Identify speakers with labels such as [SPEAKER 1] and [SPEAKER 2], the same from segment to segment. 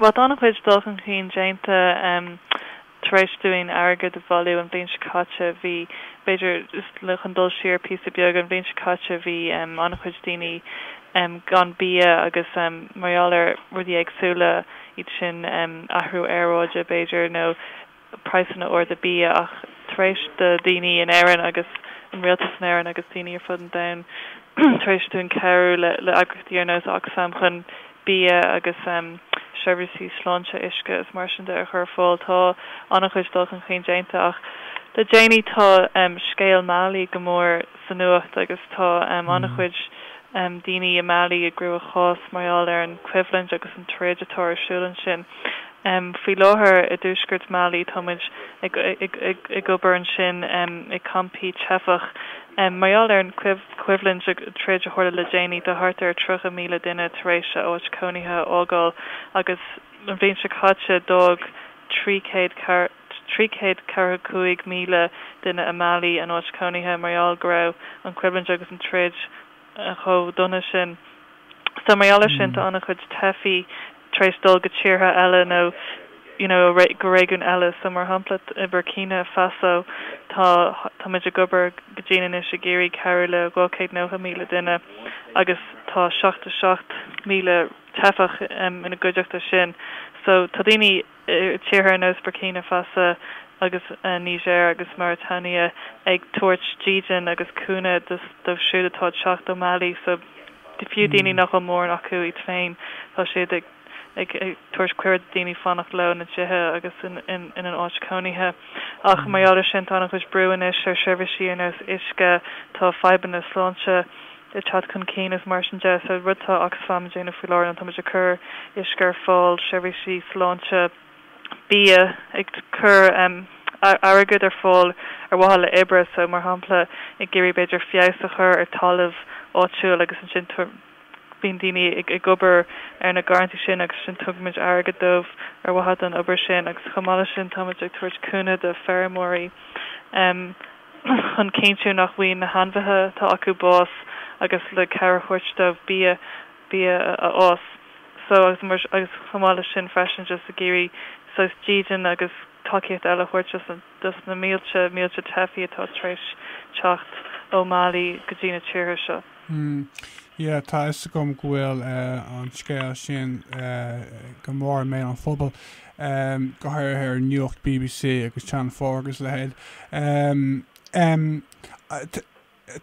[SPEAKER 1] Bhuel tá an-chuid dul chun cinn déanta tar éis dúinn airgead a bhailiú an bhliain seo caite. Bhí, b'fhéidir, chun dul siar píosa beag, an bhliain seo caite bhí an-chuid daoine gan bia agus mar gheall ar rudaí éagsúla, iad sin athrú aeráide b'fhéidir nó. praghsanna arda bia ach tar éis do dhaoine in Éirinn agus an rialtas in Éirinn agus daoine ar fud an domhain tar éis dúinn cabhrú le le eagrachtaí ar nós Oxfam chun bia agus seirbhísí sláinte, uisce is mar sin de a chur ar fáil tá an-chuid dul chun cinn déanta ach le déanaí tá scéal Mali go mór sa nuacht agus tá an-chuid daoine i Mali i gcruachás mar gheall ar an choimhlint agus an troid atá ar siúl ansin. em faoi láthair i dtuaisceart Mali tá muid ag ag ag obair ansin em i gcampaí teifeach em mar gheall ar an choimhlint, an troid a tharla le déanaí tá thart ar 30,000 duine tar éis a n-áit chónaithe a fhágáil agus an bhliain seo caite d'fhág trí chéad trí chéad ceathracha cúig míle duine i Mali a n-áit chónaithe mar gheall go raibh an choimhlint agus an troid chomh dona sin so mar gheall ar sin tá ana chuid teifigh tar éis dul go tíortha eile nó you know go réigiún eile so mar shampla i Burkina Faso tá táimid ag obair go dian anois ag iarraidh cabhrú le dhá chéad nócha míle duine agus tá seachtó seacht míle teifeach ina gcuideachta sin so tá daoine tíortha ar nós Burkina Faso agus Niger agus Mauritania ag tabhairt dídean agus cúnamh dóibh siúd atá ag teacht ó Mali so fiú daoine nach bhfuil mórán acu iad féin tá siad ag ag tabhairt cuireadh do dhaoine fanacht leo ina dtithe agus ina n-áit chónaithe ach mar gheall ar sin tá an-chuid brú anois ar seirbhísí ar nós uisce tá fadhbanna sláinte ag teacht chun cinn agus mar sin de. So rud atá Oxfam ag déanamh faoi láthair ná táimid ag cur uisce ar fáil, seirbhísí sláinte, bia, ag cur em, airgead ar fáil ar mhaithe le oibre. So mar shampla ag iarraidh b'fhéidir feabhas a chur ar talamh áitiúil agus ansin bíonn daoine ag ag obair ar na garrantaí sin agus ansin tugaimid airgead dóibh ar mhaithe don obair sin agus chomh maith leis sin táimid ag tabhairt cúnamh do feirmeoirí em, chun cinntiú nach bhfaighidh na hainmhithe atá acu bás agus le cabhair a thabhairt dóibh bia bia a fhás so agus chomh maith leis sin freisin just ag iarraidh sórt dídean agus tacaíocht eile a thabhairt dos na dos na mílte mílte teifigh atá tar éis teacht ó Mali go dtí na tíortha seo. Hmm yeah
[SPEAKER 2] tá fhios agam go bhfuil eh an scéal sin eh go mór i mbéal an phobail go háirithe ar nuacht bbc agus Channel Four agus a leithéid.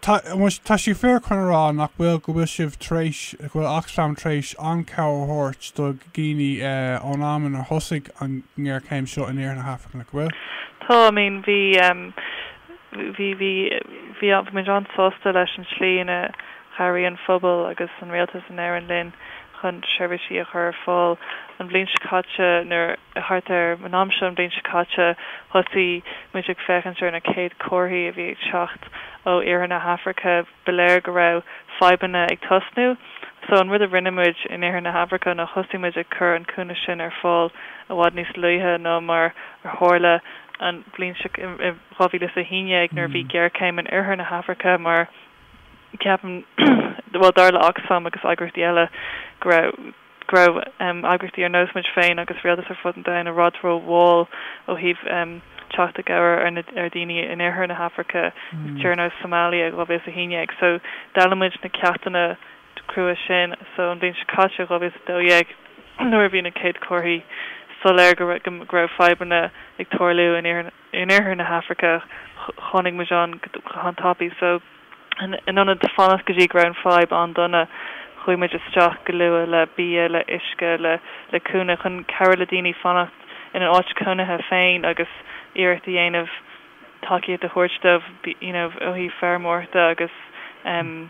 [SPEAKER 2] Tá sé fíor chun a rá nach bhfuil go bhfuil sibh tar éis, go bhfuil Oxfam tar éis an-chabhair a thabhairt do dhaoine ón am ar thosaigh an ngéarchéim seo in iarthar na hAfraice, nach bhfuil? Tá, I mean bhí,
[SPEAKER 1] bhí, bhí, bhí, bhí muid an-sásta leis an tslí ina, Chabhraigh an phobal agus an rialtas in Éirinn linn chun seirbhísí a chur ar fáil an bhliain seo caite nuair, thart ar an am seo an bhliain seo caite, thosaigh muid ag féachaint ar na chéad chomharthaí a bhí ag teacht ó iarthar na hAfraice. Ba léir go raibh fadhbanna ag tosnú so an rud a rinne muid in iarthar na hAfraice ná thosaigh muid ag cur an cúnamh sin ar fáil i bhfad níos luaithe ná mar a tharla an bhliain seo caite i 2011 nuair a bhí géarchéim in oirthear na hAfraice mar ceapaim, bhuel dar le Oxfam agus eagraíochtaí eile go raibh, go raibh eagraíochtaí ar nós muid féin agus rialtas ar fud an domhain i bhfad ró mhall ó thaobh teacht i gcabhair ar na, ar dhaoine in oirthear na hAfraice i dtíortha ar nós Somalia dhá mhíle 's a haondhéag so d'fhoghlaim muid na ceachtanna crua sin so an bhliain seo caite, dhá mhíle 's a dó dhéag, nuair a bhí na céad comharthaí soiléir go raibh, go raibh fadhbanna ag tarlú in iarthar na. in iarthar na hAfraice. Tháinig muid ann go han tapaidh so in ionad fanacht go dtí go raibh an fadhb an-dona chuaigh muid isteach go luath le bia, le uisce, le le cúnamh chun cabhrú le daoine fanacht ina n-áit cónaithe féin agus iarracht a dhéanamh tacaíocht a thabhairt dóibh you know ó thaobh feirmeoireachta agus ehm,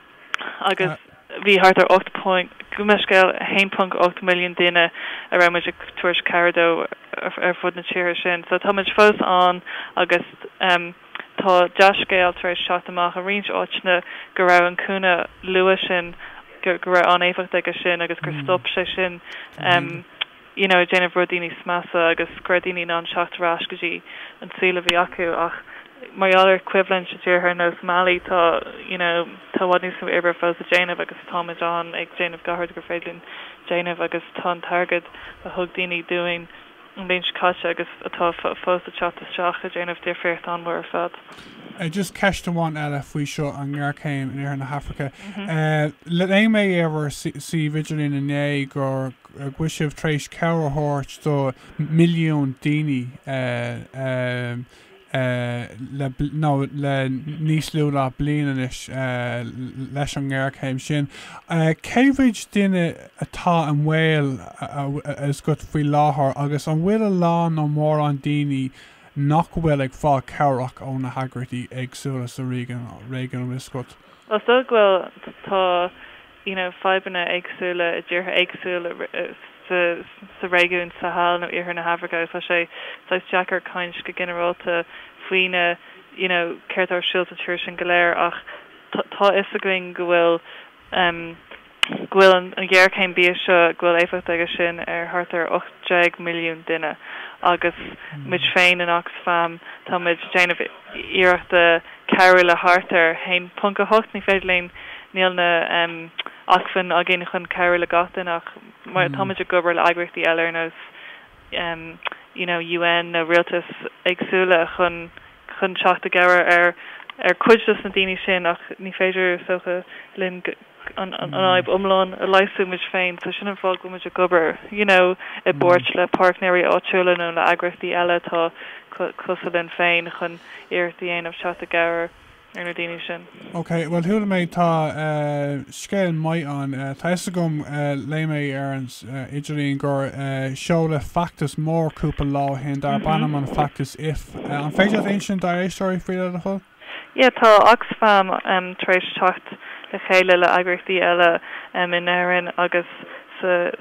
[SPEAKER 1] agus bhí thart ar 8 point, gabh mo leithscéal, 1.8 milliún duine a raibh muid ag tabhairt cabhair dó ar fud na tíortha sin. So tá muid fós ann agus tá dea-scéal tar éis teacht amach i roinnt áiteanna go raibh an cúnamh luath sin, go raibh an-éifeacht aige sin agus gur stop sé sin. you know ag déanamh rudaí níos measa agus go raibh daoine in ann teacht ar ais go dtí an saol a bhí acu ach mar gheall ar coimhlint i dtíortha ar nós Mali tá you know tá i bhfad níos mó oibre fós le déanamh agus táimid ann ag déanamh gach rud gur féidir linn déanamh agus tá an t-airgead a thug daoine dúinn an bhliain seo caite agus atá fós ag teacht isteach ag déanamh difríocht an-mhór ar fad. eh just ceist
[SPEAKER 2] amháin eile faoi seo an ngéarchéim in iarthar na hAfraice eh léigh mé ar bhur suíomh idirlín inné gur go bhfuil sibh tar éis cabhair a thabhairt do milliún daoine nó le níos lú ná bliain anois leis an ngéarchéim sin. Cé mhéid duine atá i mbaol agat faoi láthair agus an bhfuil a lán nó mórán daoine nach bhfuil ag fáil cabhrach ó na heagraíochtaí éagsúla sa réigiún agat? Well is dóigh go bhfuil,
[SPEAKER 1] tá ina fadhbanna éagsúla i dtíortha éagsúla sa réigiún Sahel nó Iarthar na hAfraice. Tá sé saghas deacair caint go ginearálta faoina you know céard atá ar siúl sna tíortha sin go léir ach tá a fhios againn go bhfuil go bhfuil an ghéarchéim bia seo go bhfuil éifeacht aige sin ar thart ar 18 milliún duine agus muid féin in Oxfam táimid déanamh iarrachta cabhrú le thart ar 1.8 Ní féidir linn, níl na em acmhainn againn chun cabhrú le gach duine ach mar tá muid ag obair le eagraíochtaí eile ar nós em you know an UN nó rialtais éagsúla chun chun teacht i gcabhair ar ar cuid dos na daoine sin ach ní féidir is dócha linn go an fhadhb iomlán a leigheasú muid féin so sin an fáth go muid ag obair you know i bpáirt le páirtnéirí áitiúla nó le eagraíochtaí eile atá cosúil linn féin chun iarracht a dhéanamh teacht i gcabhair ar na daoine sin. Ok, bhuel chuala
[SPEAKER 2] mé tá scéal maith ann, tá fhios agam léigh mé ar an idirlíon gur seoladh feachtas mór cúpla lá ó shin darb ainm an feachtas If, an féidir leat insint dár éisteoirí faoi le do thoil? Yeah,
[SPEAKER 1] tá Oxfam tar éis teacht le chéile le eagraíochtaí eile in Éirinn agus sa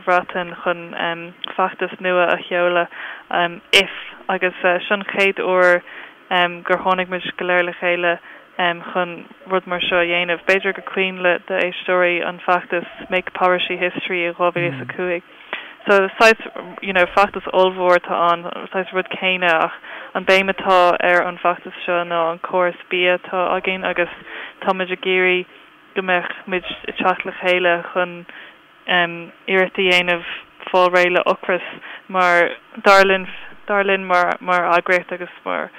[SPEAKER 1] Bhreatain chun feachtas nua a sheoladh, if, agus seo an chéad uair gur tháinig muid go léir le chéile chun rud mar seo a dhéanamh. B'fhéidir go cuimhin le d'éisteoirí an feachtas Make Poverty History i 2005. So saghas, you know, feachtas ollmhór atá ann, saghas rud céanna ach an béim atá ar an feachtas seo ná an córas bia atá againn agus tá muid ag iarraidh go mbeadh muid ag teacht le chéile chun em iarracht a dhéanamh fáil réidh le ocras mar dar linn, dar linn mar, mar eagraíocht agus mar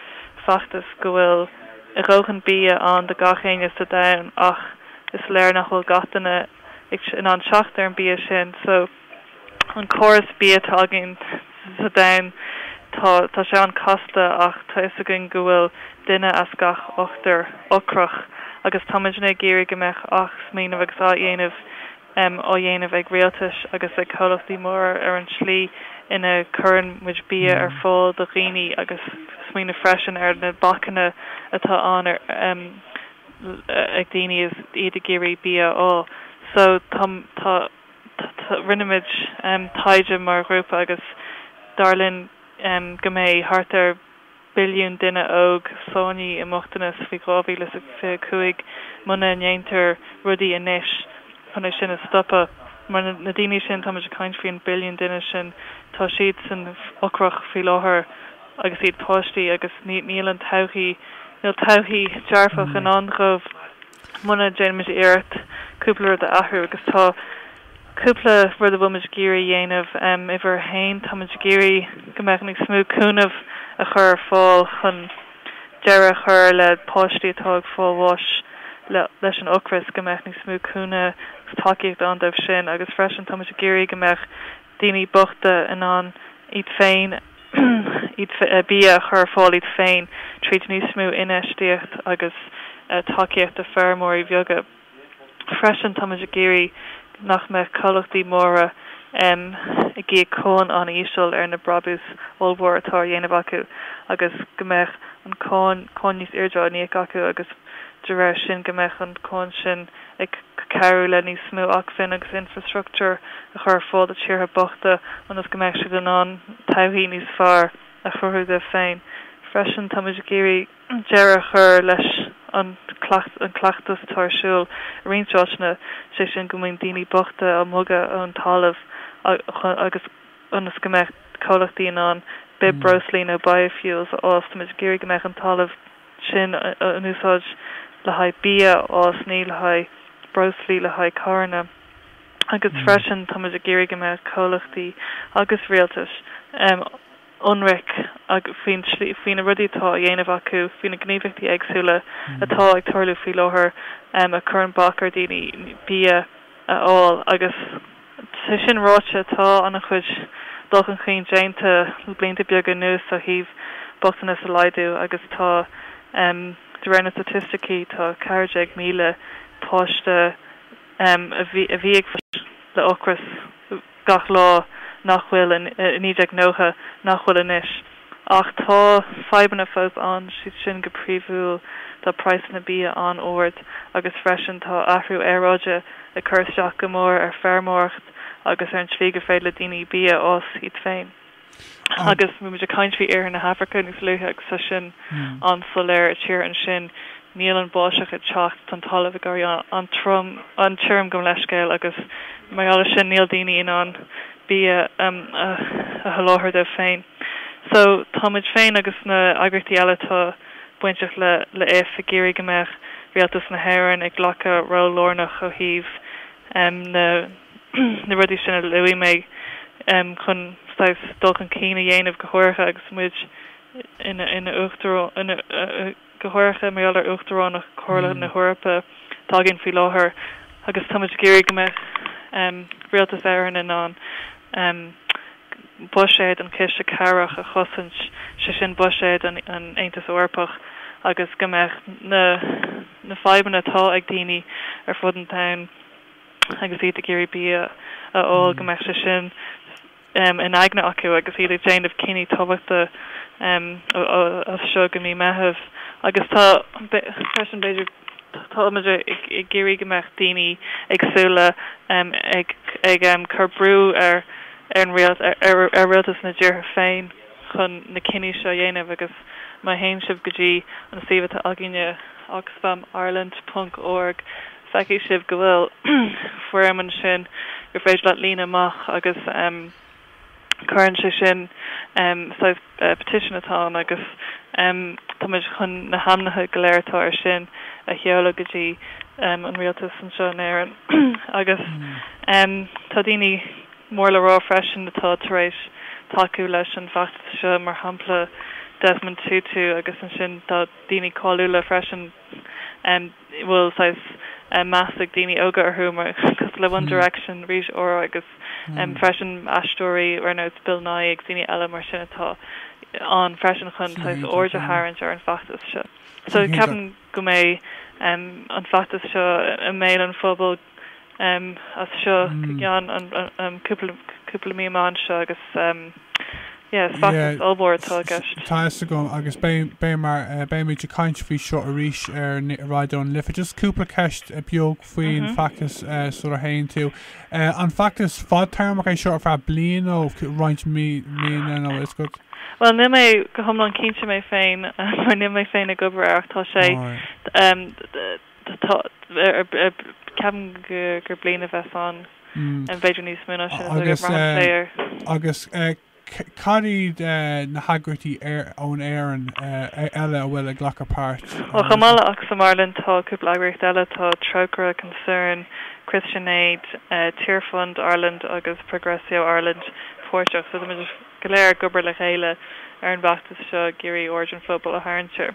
[SPEAKER 1] feachtas go bhfuil a dhóthain bia ann do gach éinne sa domhan ach is léir nach bhfuil gach duine in ann teacht ar an bia sin. So an córas bia atá againn sa domhan tá tá sé an-casta ach tá fhios againn go bhfuil duine as gach ochtar ocrach agus táimidne ag iarraidh go mbeadh athsmaoineamh agus á dhéanamh em á dhéanamh ag rialtais agus ag comhlachtaí móra ar an tslí ina cuireann muid bia ar fáil do dhaoine agus smaoineamh freisin ar na bacanna atá ann ar em ag daoine is iad ag iarraidh bia a fháil. So tá, tá, tá, rinne muid taighde mar ghrúpa agus dar linn go mbeidh thart ar billiún duine óg sáinnithe i mbochtanas faoi 2025 muna ndéantar rudaí anois chun é sin a stopadh. Mar na daoine sin, tá muid ag caint faoi an billiún duine sin, tá siad san ocrach faoi láthair. agus iad páistí agus níl an todhchaí, níl todhchaí dearfach i ndán dhóibh muna déanaimid iarracht cúpla rud a athrú agus tá cúpla rud a bhfuil muid ag iarraidh a dhéanamh. Uimhir a haon, tá muid ag iarraidh go mbeadh níos mó cúnamh á chur ar fáil chun deireadh a chur le páistí atá ag fáil bháis leis an ocras, go mbeadh níos mó cúnamh agus tacaíocht ann dóibh sin agus freisin tá muid ag iarraidh go mbeadh daoine bochta in ann iad féin bia a chur ar fáil iad féin tríd níos mó infheistíocht agus tacaíocht do feirmeoirí bheaga. Freisin táimid ag iarraidh nach mbeadh comhlachtaí móra ag íoc cáin an-íseal ar na brabús ollmhór atá á dhéanamh acu agus go mbeadh an cáin níos airde á n-íoc acu agus de réir sin go mbeadh an cáin sin ag cabhrú le níos mó acmhainn agus infreastruchtúr a chur ar fáil do tíortha bochta ionas go mbeadh siad in ann todhchaí níos fearr a chruthú dóibh féin. Freisin, táimid ag iarraidh deireadh a chur leis an gcleachtas atá ar siúl i roinnt áiteanna, sé sin go mbíonn daoine bochta á mbogadh ón talamh agus ionas go mbeadh comhlachtaí in ann bithbhreoslaí nó biofuels a fhás, táimid ag iarraidh go mbeadh an talamh sin in úsáid le haghaidh bia, agus ní le haghaidh breoslaí, le haghaidh carranna agus freisin táimid ag iarraidh go mbeadh comhlachtaí agus rialtais ionraic faoi na rudaí atá á dhéanamh acu, faoi na gníomhaíochtaí éagsúla atá ag tarlú faoi láthair a chuireann bac ar dhaoine bia a fháil agus. Sé sin ráite, tá ana chuid dul chun cinn déanta le blianta beaga anuas ó thaobh bochtanas a laghdú agus tá de réir na staitisticí tá 14,000 páiste a bhí ag fulaingt le ocras gach lá nach bhfuil i 1990 nach bhfuil anois. Ach tá fadhbanna fós ann, siad sin go príomhúil tá praghsanna bia an-ard agus freisin tá athrú aeráide ag cur isteach go mór ar feirmeoireacht agus ar an tslí gur féidir le daoine bia a fhás iad féin. Agus bhí muid ag caint faoi iarthar na hAfraice níos luaithe agus tá sin an-soiléir, i tíortha ansin níl an bháisteach ag teacht, tá an talamh ag éirí an-trom, an-tirim, gabh mo leithscéal agus mar gheall ar sin níl daoine in ann bia a sholáthar dóibh féin. So tá muid féin agus na eagraíochtaí eile atá bainteach le IF ag iarraidh go mbeadh Rialtas na hÉireann ag glacadh ról lárnach ó thaobh na na rudaí sin a luaigh mé chun saghas dul chun cinn a dhéanamh go háirithe agus muid ina ina uachtarán ina go háirithe mar gheall ar Uachtaránacht Chomhairle na hEorpa atá againn faoi láthair agus táimid ag iarraidh go mbeidh Rialtas Éireann in ann buiséad an chiste cabhrach a chosaint, sé sin buiséad an Aontas Eorpach, agus go mbeidh na fadhbanna atá ag daoine ar fud an domhain agus iad ag iarraidh bia a fháil, go mbeadh sé sin. in aigne acu agus iad ag déanamh cinní tábhachtacha as seo go mí Meitheamh agus tá freisin b'fhéidir táimid ag iarraidh go mbeadh daoine ag súil ag cur brú ar ar an rialtas ar rialtas na dtíortha féin. chun na cinní seo a dhéanamh agus má théann sibh go dtí an suíomh atá againne, oxfamireland.org, feicfidh sibh go bhfuil foirm ansin gur féidir leat líonadh amach agus cuireann sé sin saghas petition atá ann agus táimid chun na hainmneacha go léir atá air sin a sheoladh go dtí an rialtas anseo in Éirinn agus tá daoine mór le rá freisin atá tar éis tacú leis an bhfeachtas seo, mar shampla Desmond Tutu agus ansin tá daoine cáiliúla freisin a bhfuil saghas meas ag daoine óga orthu, mar cosúil le One Direction, Rita Ora agus freisin aisteoirí ar nós Bill Nighy agus daoine eile mar sin atá ann freisin chun saghas aird a tharraingt ar an bhfeachtas seo. So ceapaim go mbeidh an feachtas seo i mbéal an phobail. as seo go ceann cúpla mí amach anseo agus
[SPEAKER 2] yeah feachtas ollmhór atá i gceist. Tá a fhios agam agus beimid ag caint faoi seo arís ar Raidió na Life. Just cúpla ceist beag faoin feachtas sula a théann tú. An feachtas fadtéarmach é seo ar feadh bliain nó roinnt míonna nó is go? Bhuel níl mé
[SPEAKER 1] go hiomlán cinnte mé féin mar níl mé féin ag obair air ach tá sé Ceapaim gur bliain a bheas ann, b'fhéidir níos mó ná sin, is dóigh liom. Braitheann sé ar. Agus
[SPEAKER 2] cad iad na heagraíochtaí ón Éirinn eile a bhfuil ag glacadh páirt? Bhuel, chomh maith le Oxfam
[SPEAKER 1] Ireland, tá cúpla eagraíocht eile, tá Trócaire, Concern, Christian Aid, Tearfund Ireland agus Progressio Ireland páirteach. So táimid go léir ag obair le chéile ar an bhfeachtas seo ag iarraidh aird an phobail a tharraingt air.